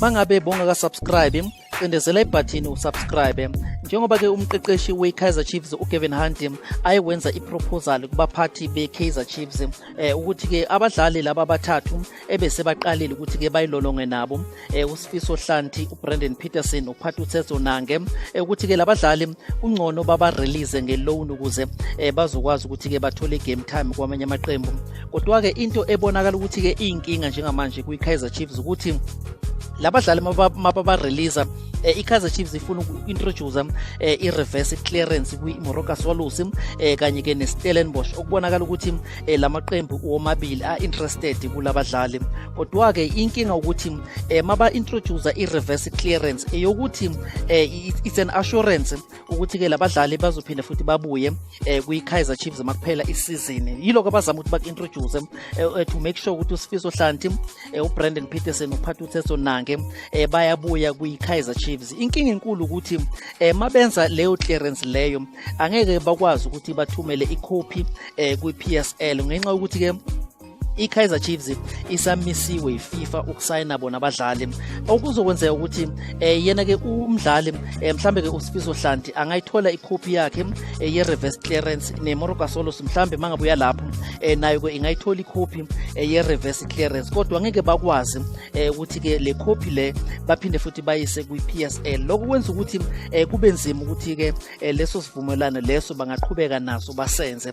mangabe bongaka subscribe cindezela ibhathini usubscribe njengoba ke umqeqeshi we-kaizer chiefs ugavin hunt ayewenza iproposal kubaphathi be-kaizer chiefs eh ukuthi ke abadlali laba abathathu ebesebaqalile ukuthi ke bayilolonge nabo um eh, usifiso hlanti ubrandon peterson uphatha uthetho nange um eh, ukuthi-ke labadlali kungcono babarelease ngeloan ukuze um bazokwazi ukuthi-ke bathole i-game time kwamanye amaqembu kodwa-ke into ebonakala ukuthi-ke iyinkinga njengamanje kwi-kaizer chiefs ukuthi labadlali mababareleasa maba eh, i-kaizer chiefs ifuna uku-introduce eh, i-reverse clearance kwi-moroka swallows eh, kanye-ke ne-stellenbosch okubonakala ukuthi eh, lamaqembu womabili a interested kulabadlali kodwa ke inkinga ukuthi eh, maba introduce i reverse clearance eyokuthi eh, eh it's an assurance ukuthi ke labadlali bazophinde futhi babuye eh, kwi Kaizer Chiefs makuphela isizini yiloko abazama ukuthi baku introduce eh, eh, to make sure ukuthi uSifiso Hlanti eh, uBrandon Peterson uphatha uTheso Nange eh, bayabuya kwi Kaizer Chiefs inkinga enkulu ukuthi eh, mabenza leyo clearance leyo angeke bakwazi ukuthi bathumele ikhophi um eh, kwi-psl ngenxa yokuthi-ke i-kaizer chiefs isamisiwe yififa ukusayina bona abadlali okuzokwenzeka ukuthi um yena-ke umdlali um eh, mhlawumbe-ke usifiso hlanti angayithola ikhophi yakhe um ye-reverse clearance nemoroka solos mhlawumbe uma ngabuya lapho um nayo-ke ingayithola ikhophi um ye-reverse clearance kodwa ngeke bakwazi um eh ukuthi ke le copy le baphinde futhi bayise kwi PSL lokho kwenza ukuthi eh kube nzima ukuthi ke eh, leso sivumelwano leso bangaqhubeka naso basenze